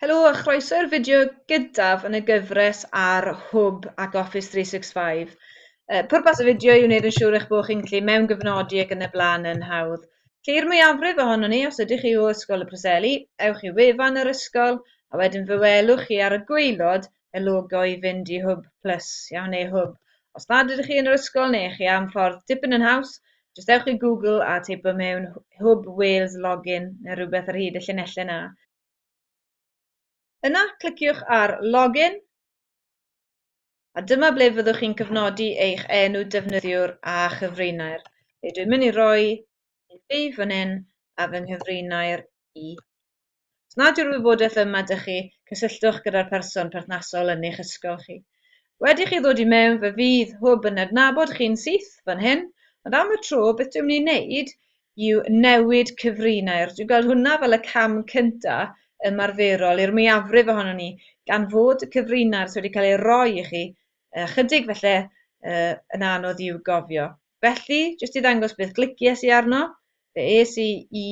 Helo a chroeso i'r fideo gyntaf yn y gyfres ar Hwb ac Office 365. Uh, pwrpas y fideo i wneud yn siŵr eich bod chi'n gallu mewn gyfnodi ac yn y blaen yn hawdd. Lly'r mwyafrif ohono ni, os ydych chi o Ysgol y Preseli, ewch i wefan yr ysgol a wedyn fe welwch chi ar y gweilod y logo i fynd i Hwb Plus, iawn, neu Hwb. Os nad ydych chi yn yr ysgol neu chi am ffordd dipyn yn haws, jyst ewch i Google a teipo mewn Hwb Wales Login neu rhywbeth ar hyd y llinellau 'na. Yna, cliciwch ar Login, a dyma ble fyddwch chi'n cyfnodi eich enw defnyddiwr a chyfrinair. Felly dwi'n mynd i roi un fi fan hyn a fy nghyfrinair i. Os nad yw'r wybodaeth yma 'da chi, cysylltwch gyda'r person perthnasol yn eich ysgol chi. Wedi chi ddod i mewn, fe fydd Hwb yn adnabod chi'n syth fan hyn, ond am y tro, beth dwi'n mynd i wneud yw newid cyfrinair. Dwi'n gweld hwnna fel y cam cynta ymarferol i'r mwyafrif ohonon ni, gan fod y cyfrinair sy wedi cael ei roi i chi ychydig felly yn anodd i'w gofio. Felly, jyst i ddangos beth glicies i arno, fe es i i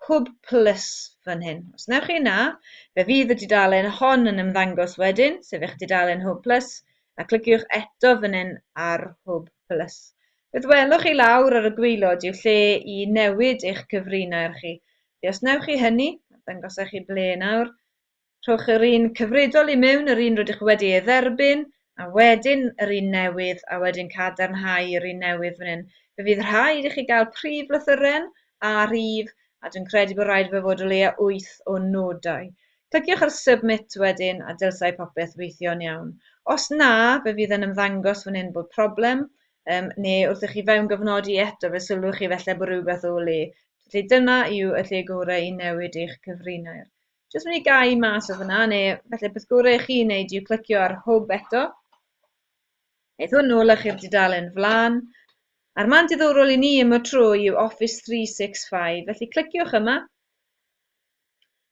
Hwb Plus fan hyn. Os wnewch chi na, fe fydd y dudalen hon yn ymddangos wedyn, sef eich dudalen Hwb Plus, a cliciwch eto fan hyn ar Hwb Plus. Beth welwch chi lawr ar y gwaelod yw lle i newid eich cyfrinair chi. Felly os wnewch chi hynny, dangosau chi ble nawr, Rhowch yr un cyfredol i mewn, yr un rydych wedi ei dderbyn, a wedyn yr un newydd, a wedyn cadarnhau yr un newydd fan hyn. Fe fydd rhaid i chi gael prif lythyren a rhif, a dwi'n credu bod rhaid fe fod o leia wyth o nodau. Cliciwch ar Submit wedyn, a dylsai popeth weithio'n iawn. Os na, fe fydd yn ymddangos fan hyn bod problem, um, neu wrth i chi fewngyfnodi eto fe sylwch chi felly bod rhywbeth o le. Felly dyna yw y lle gorau i newid eich cyfrinair. Jyst mynd i gau mas o fyna, neu felly beth gorau i chi wneud yw clicio ar hwb eto. Eith hwn nôl eich i'r dudalen flan. A'r man diddorol i ni yma tro yw Office 365, felly cliciwch yma.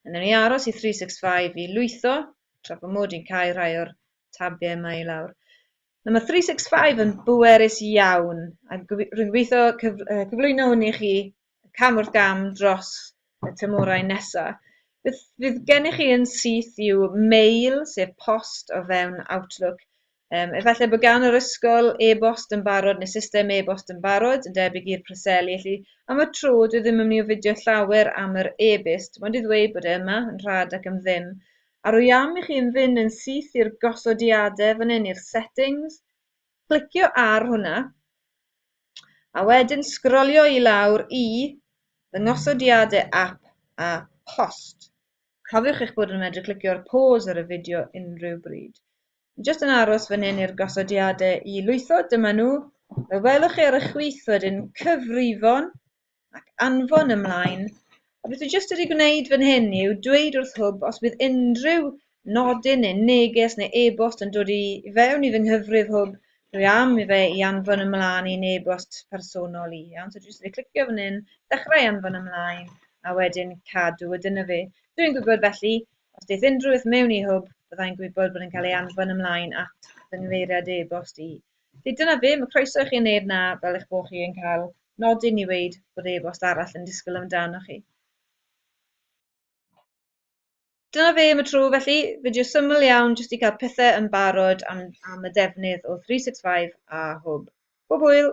Yn ni aros i 365 i lwytho, tra bod mod i'n cael rhai o'r tabiau yma i lawr. Nawr mae 365 yn bwerus iawn, a rwy'n gweithio cyflwyno hwn i chi cam wrth gam dros y tymhorau nesaf. Beth fydd gennych chi yn syth yw mail, sef post o fewn Outlook. Um, efallai bod gan yr ysgol e-bost yn barod neu system e-bost yn barod, yn debyg i'r preseli, felly am y tro dwi ddim yn mynd i ofidio llawer am yr e-byst, mae'n i ddweud bod e yma yn rhad ac yn ddim. A rwy am i chi yn fynd yn syth i'r gosodiadau fan hyn i'r settings, Clicio ar hwnna, a wedyn sgrolio i lawr i Ddangosodiadau Ap a Post. Cofiwch eich bod yn medru clicio ar Pause ar y fideo unrhyw bryd. Dwi jyst yn aros fan hyn i'r gosodiadau i lwytho, dyma nhw. Fe welwch chi ar y chwith wedyn Cyfrifon, ac anfon ymlaen, a beth dwi jyst wedi gwneud fan hyn yw dweud wrth hwb os bydd unrhyw nodyn neu neges neu e-bost yn dod i fewn i fy nghyfrif hwb, dwi am i fe i anfon ymlaen i'n e-bost personol i. Iawn, so dwi jyst wedi clicio fan hyn, dechrau anfon ymlaen, a wedyn cadw, a dyna fe. Dwi'n gwybod felly, os daeth unrhyw beth mewn i hwb, byddai'n gwybod bod yn cael ei anfon ymlaen at fy nghyfeiriad e-bost i. Felly dyna fe, mae croeso i chi yn neb na fel eich bod chi yn cael nodyn i weud bod e-bost arall yn disgwyl amdanoch chi. Dyna fe am y tro felly, fideo syml iawn jyst i cael pethau yn barod am, am y defnydd o 365 a hwb. Bob hwyl!